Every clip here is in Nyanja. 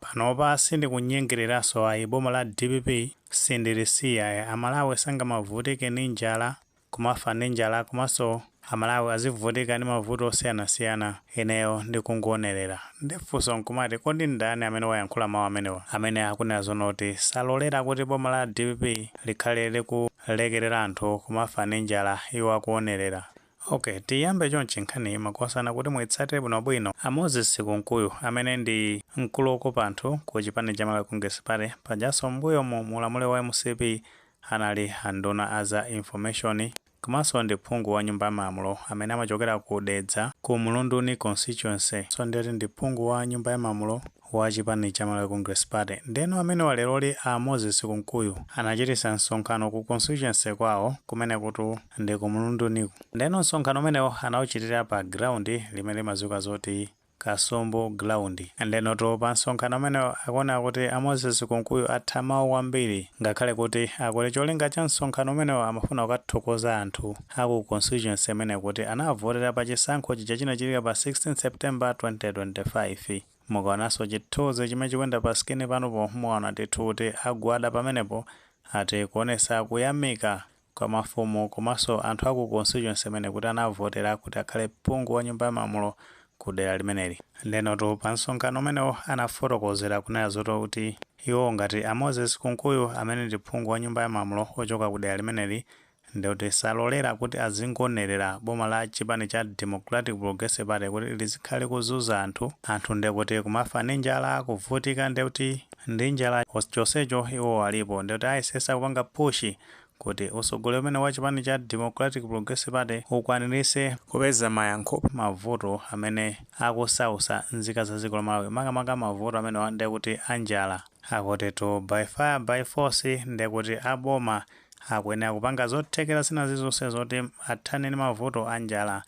Panopa sindikunyengereranso ayi boma la dpp sindilisiya ayi amalawi sangamavutike ndi njala kumafa ndi njala komanso amalawi azivutika ndi mavuto osiyanasiyana ineyo ndikungoonerera nde funso nkumati kodi ndani amene wayankhula mawu amenewa amene akunena zonoti salolera kuti boma la dpp likhale likulekerera anthu kumafa ndi njala iwo akuonerera Ok tiyambe chonchi nkhaniyi makosana kuti muitsatire bwino bwino a Moses Kunkuyu amene ndi mkulu okopa anthu ku chipani cha Malawi Congress Party pajanso m'mbuyomu mu ulamuliro wa mcp anali a nduna a za information komanso ndi phungu wa nyumba ya malamulo amene amachokera ku Dedza ku Mlunduni constituency so ndiye kuti ndi phungu wa nyumba ya malamulo wa chipani cha Malawi Congress Party. Ndeno amenewa leroli a Moses Kunkuyu anachitisa msonkhano ku constituency kwawo kumene kuti ndi ku Mlunduniku. Ndeno msonkhano umenewo anauchitira pa ground limene limadziwika zoti Kasumbu ground. Ndenotu pa msonkhano umenewo akuoneka kuti a Moses Kunkuyu atha mawu kwambiri ngakhale kuti akuti cholinga cha msonkhano umenewo amafuna kukathokoza anthu a ku constituency imeneyo kuti anawavotera pa chisankho chija chinachitika pa 16 September 2025. Mukaonanso chithunzi chimene chikuyenda pa screen panopo muona ndithu kuti agwada pamenepo ati kuonesa kuyamika Kwa mafumu komanso anthu aku constituency imene kuti anavotera kuti akhale phungu wa nyumba ya malamulo Ku dera limeneli. Ndenotu pa msonkhano umenewo anafotokozera kunena zoti kuti Iwo ngati a Moses kunkuyu amene ndi phungu wa nyumba ya malamulo ochoka ku dera limeneli Ndekuti salolera kuti azingoonelera boma la chipani cha Democratic Progressive Party kuti lizikhala likuzunza anthu, anthu ndekuti kumafa ndi njala, kuvutika ndekuti ndi njala chonsecho iwowo alipo ndekuti ayesesa kupanga push kuti usogoleri umenewu wa chipani cha Democratic Progressive Party ukwanilise kupeza mayankho pa mavuto amene akusausa nzika za dziko la Malawi makamaka mavuto amenewa ndekuti a njala. Akutitu by fire by force ndekuti a boma akuyenera kupanga zothekera zina zilizonse zoti athane ndi mavuto a njala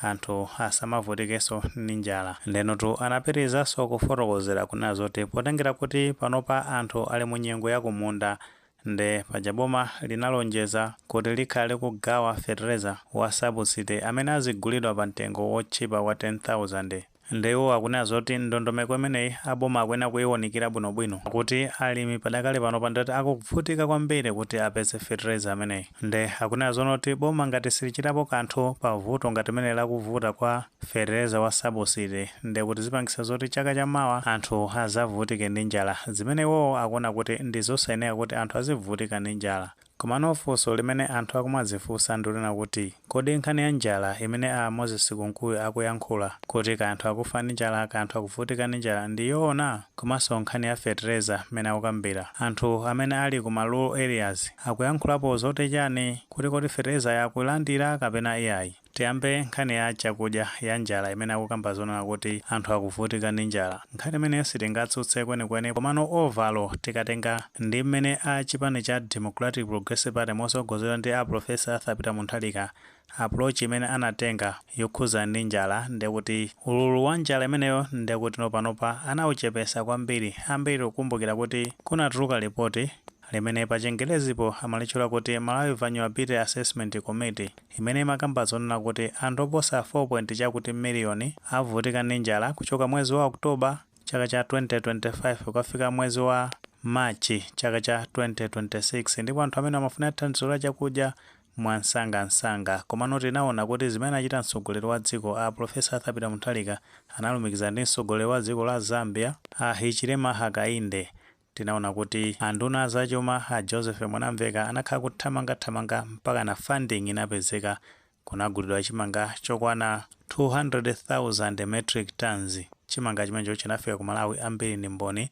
anthu asamavutikenso ndi njala ndenotu anapitirizanso kufotokozera kunena zoti potengera kuti panopa anthu ali mu nyengo ya kumunda nde paja boma linalonjeza kuti likhala likugawa fetereza wa subsidy amene azigulidwa pa mtengo wotchipa wa 10,000 Nde iwo akunena zoti ndondomeko imeneyi a boma akuyenera kuiunikira bwinobwino kuti alimi padakali panopa ndiye kuti akuvutika kwambiri kuti apeze fetereza ameneyi nde akunena zonoti boma ngati silichitapo kanthu pa vuto ngati limeneli la kuvuta kwa fetereza wa subsidy nde kuti zipangisa zoti chaka cha mawa anthu azavutike ndi njala zimene iwowo akuona kuti ndizosayenera kuti anthu azibvutika ndi njala Komano funso limene anthu akumadzifunsa ndi lonena kuti kodi nkhani ya njala imene a Moses Kunkuyu akuyankhula kuti kaya anthu akufa ndi njala kaya anthu akuvutika ndi njala ndi yoona? Komanso nkhani ya fetereza mmene akukambila anthu amene ali ku ma rural areas akuyankhulapo zoti chani kuti kodi feterezayo akulandila kapena iyayi? Tiyambe nkhani ya chakudya ya njala imene akukamba zonena kuti anthu akuvutika ndi njala. Nkhani imeneyo sitingatsutse kwenikweni komano overall tikatenga ndi mmene a chipani cha Democratic Progressive Party motsogozedwa ndi a Professor Arthur Peter Mutharika approach imene anatenga yokhudza ndi njala ndekuti ululu wa njala imeneyo ndekuti panopa anauchepesa kwambiri ambiri tikukumbukira kuti kunatuluka report limene pachingelezipo amalitchula kuti Malawi Vulnerability Assessment Committee imene imakamba zonena kuti anthu oposa 4 point chakuti million avutika ndi njala kuchoka mwezi wa October chaka cha 2025 kukafika mwezi wa March chaka cha 2026 ndipo anthu amenewa amafunika thandizo la chakudya mwamsangamsanga. Komano tinaona kuti zimene achita mtsogoleri wa dziko a Professor Arthur Peter Mutharika analumikizana ndi mtsogoleri wa dziko la Zambia a Hichilema Hakainde Tinaona kuti a nduna a zachuma a Joseph Mwanamveka anakhala kuthamanga thamanga mpakana funding inapezeka, kunagulidwa chimanga chokwana 200,000 metric tonnes. Chimanga chimenecho chinafika ku Malawi ambiri ndi mboni,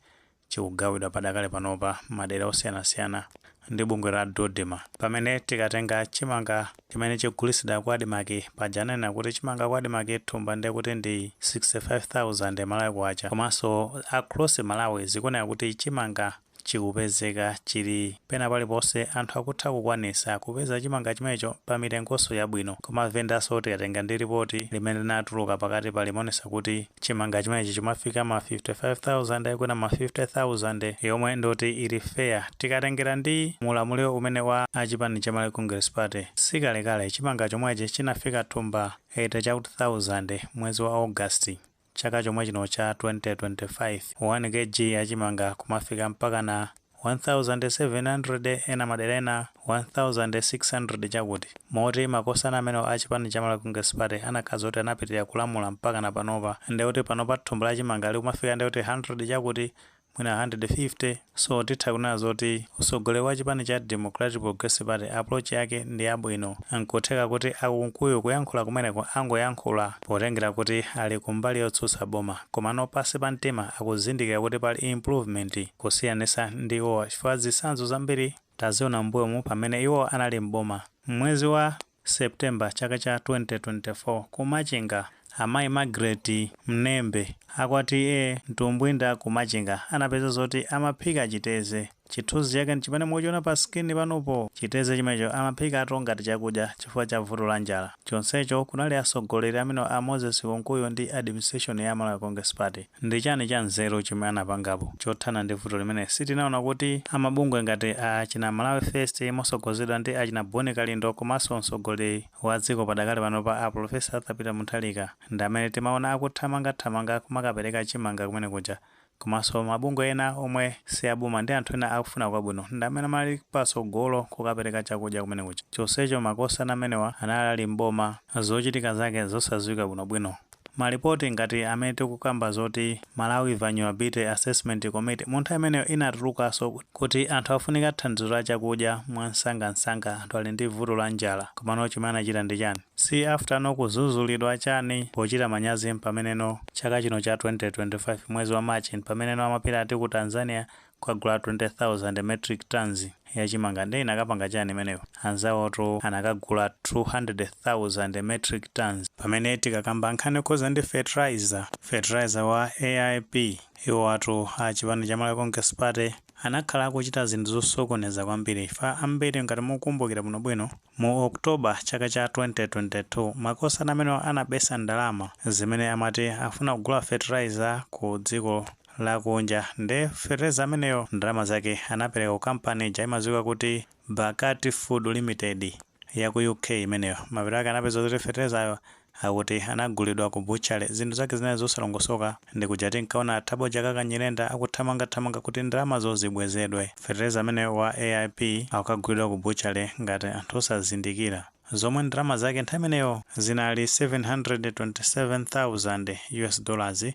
chikugawidwa padakali panopa madera osiyanasiyana. ndi bungwe la Dodma pamene tikatenga chimanga chimene chikugulitsidwa ku Admarc paja ananena kuti chimanga ku Admarc thumba ndiye kuti ndi 65,000 Malawi Kwacha komanso across Malawi zikuoneka kuti chimanga chikupezeka chili pena paliponse anthu akutha kukwanitsa kupeza chimanga chimenecho pa mitengonso yabwino kwa ma venda so tikatenga ndi lipoti limene linatuluka pakatipa limaonetsa kuti Chimanga chimenechi chimafika ma 55,000 kwina ma 50,000 yomwe ndi yoti ili fair tikatengera ndi mulamuliro umene wa a chipani cha Malawi Congress Party. Sikalekale chimanga chomwechi chinafika thumba 80 chakuti thousand mwezi wa August chaka chomwechino cha 2025. 1 Kg ya chimanga kumafika mpakana. 1700 ena madera ena 1600 chakuti. Moti makosana amenewa a chipani cha Malawi Congress Party anakakhala zoti anapitilira kulamula mpakana panopa ndekuti panopa thumba la chimanga likumafika ndekuti 100 chakuti mwina 150 so titha kunena zoti utsogoleri wa chipani cha Democratic Progressive Party approach yake ndi yabwino nkutheka kuti a Kunkuyu kuyankhula kumeneko angoyankhula potengera kuti ali kumbali yotsutsa boma komano pansi pa mtima akuzindikira kuti pali improvement kusiyanisa ndi iwowa chifukwa zitsanzo zambiri taziona m'mbuyomu pamene iwo anali m'boma. M'mwezi wa September chaka cha 2024 ku Machinga amayi Magret Mnembe a kwa TA Mtumbwinda ku Machinga anapeza zoti amaphika chiteze. Chithunzi chake n'chimene mukuchiona pa screen panupo. Chiteze chimenecho amaphikato ngati chakudya chifukwa cha vuto la njala. Chonsecho kunali atsogoleri amenewa a Moses Kunkuyu ndi administration ya Malawi Congress Party. Ndi chani cha nzeru chomwe anapangapo chothana ndi vuto limeneli? Sitinaona kuti a mabungwe ngati achina Malawi First mosogozedwa ndi achina Bon Kalindo komanso mtsogoleri wa dziko padakali panopa a Professor Arthur Peter Mutharika ndi amene timaona akuthamangathamanga kumakapereka chimanga kumene kuja komanso mabungwe ena omwe si a boma ndi anthu ena akufuna kwabwino ndi amene amali patsogolo kukapereka chakudya kumene kuja chonsecho makosana amenewa anali ali m'boma zochitika zake zosadziwika bwinobwino. Malipoti ngati amene tikukamba zoti Malawi Vulnerability Assessment Committee mu nthawi imeneyo inatulukaso kuti anthu afunika thandizo la chakudya mwamsangamsanga anthu ali ndi vuto la njala komano chomwe anachita ndi chani? Si after no kuzuzulidwa chani pochita manyazi m'pameneno chaka chino cha 2025 mwezi wa March m'pameneno amapita ati ku Tanzania kukagula 20,000 metric tonnes ya chimanga nde inakapanga chani imeneyo? anzawotu anakagula 200,000 metric tonnes. pamene tikakamba nkhani yokhuza ndi fertilizer, fertilizer wa AIP, iwowatu a chipani cha Malawi Congress Party anakhala akuchita zinthu zosokoneza kwambiri chifukwa ambiri ngati mukukumbukira bwinobwino mu October chaka cha 2022 makosana amenewa anabesa ndalama zimene amati afuna kugula fertilizer ku dziko lakunja nde fertilizer ameneyo ndalama zake anapereka ku company ija imadziwika kuti Barkaat Food Limited ya ku UK imeneyo. Mapeto ake anapeza zoti fertilizer-yo akuti anagulidwa ku butchery. Zinthu zake zinali zosalongosoka. Ndi kuja tinkaona a Thabo Chakaka Nyirenda akuthamangathamanga kuti ndalamazo zibwezedwe. Fertilizer ameneyo wa AIP akukagulidwa ku butchery ngati anthu osazindikira zomwe ndalama zake nthawi imeneyo zinali 727,000 US dollars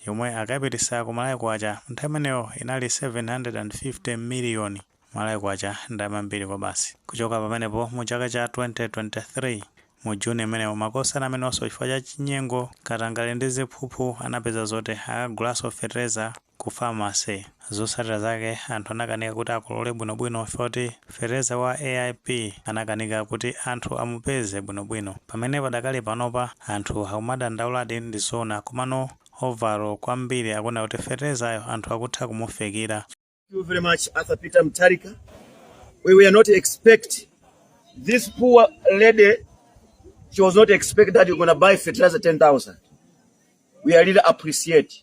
yomwe akayipititsa ku Malawi Kwacha nthawi imeneyo inali 750 miliyoni Malawi Kwacha ndalama yambiri kwabasi. Kuchoka pamenepo mu chaka cha 2023 mu June imeneyo makosana amenewaso chifukwa cha chinyengo, katangale ndi ziphuphu anapeza zoti akagulaso fetereza ku pharmacy. Zotsatira zake anthu anakanika kuti akolole bwinobwino chifukwa choti fetereza wa AIP anakanika kuti anthu amupeze bwinobwino. Pamene padakali panopa anthu akumadandauladi ndi zoona komano overall kwambiri akuona kuti feterezayo anthu akutha kumufikira. Thank you very much Arthur Peter Mutharika. We were not expect this poor lady she was not expect that you're gonna buy fertilizer 10,000. We are really appreciate.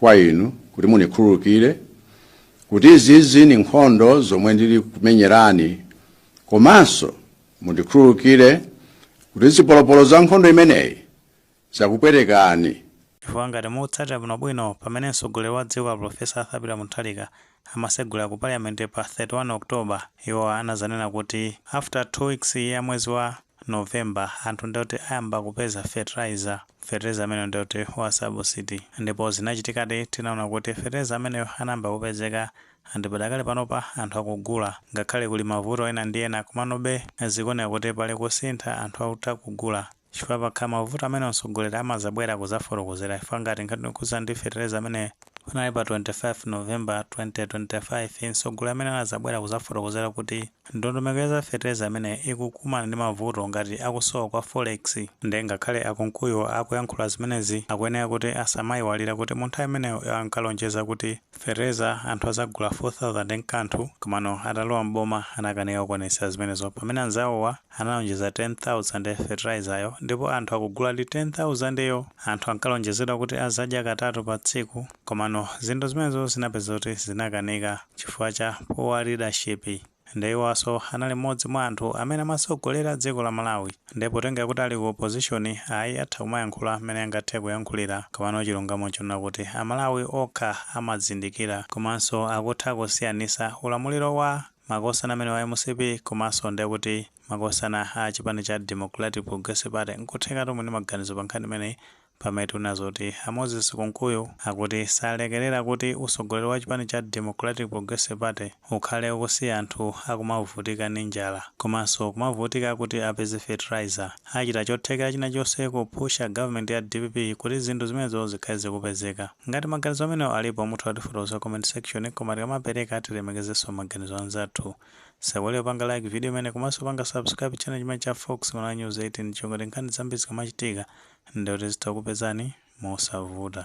kwa inu kuti mundikhululukire kuti izizi ndi nkhondo zomwe ndili kumenyerani komanso mundikhululukire kuti zipolopolo za nkhondo imeneyi zakupwetekani chifukwa ngati mukutsatira bwinobwino pamene mtsogoleri wa dziko a profesa arthur peter mutharika amasegula ku parliament pa 31 october iwo anazanena kuti after two weeks ya mwezi wa November anthu ndekuti ayamba kupeza fertilizer, fetereza ameneyo ndekuti wa subsidy ndipo zinachitikadi tinaona kuti fetereza ameneyo anayamba kupezeka and padakali panopa anthu akugula ngakhale kuli mavuto ena ndi ena komanobe zikuoneka kuti pali kusintha anthu akutha kugula chifukwa pakhala mavuto amenewo mtsogoleri amadzabwera kudzafotokozera chifukwa ngati nkhani yokhudzana ndi fetereza ameneyo panali pa 25 November 2025 mtsogoleri amene anadzabwera kudzafotokozera kuti Ndondomeko ya za fetereza imene ikukumana ndi mavuto ngati akusowa kwa Forex nde ngakhale a Kunkuyu akuyankhula zimenezi akuyenera kuti asamaiwalire kuti mu nthawi imeneyo iwo ankalonjeza kuti fetereza anthu azagula 4000 ndi nkanthu komano atalowa m'boma anakanika kuonetsa zimenezo pamene anzawowa analonjeza 10000 fetereza-yo ndipo anthu akuguladi 10000 yo anthu ankalonjezedwa kuti azadya katatu pa tsiku Komano zinthu zimenezo zinapeza kuti zinakanika chifukwa cha poor leadership nde iwonso anali mmodzi mwa anthu amene amasogolera dziko la Malawi nde potengera kuti ali ku opposition ayi atha kumayankhula mmene angathe kuyankhulira komano chilungamo nchonena kuti a Malawi okha amazindikira komanso akutha kusiyanisa ulamuliro wa makosana amene wa mcp komanso nde kuti makosana a chipani cha Democratic Progressive Party nkutheka tomwe ndi maganizo pa nkhani imeneyi Pamene tiwona zoti a Moses Kunkuyu akuti salekelera kuti utsogoleri wa chipani cha Democratic Progressive Party ukhale ukusiya anthu akumavutika ndi njala komanso kumavutika kuti apeze fertilizer, achita chothekera china chonse kupusha government ya dpp kuti zinthu zimenezo zikhale zikupezeka. Ngati maganizo amenewo alipo mutha kutifotokozera comment section koma tikamapereka tilemekezenso maganizo anzathu. Osaiwala kupanga like video imeneyi komanso kupanga subscribe channel chimenechi cha Fox Malawi News 18 choncho ngati nkhani zambiri zikamachitika ndekuti zitha kukupezani mosavuta.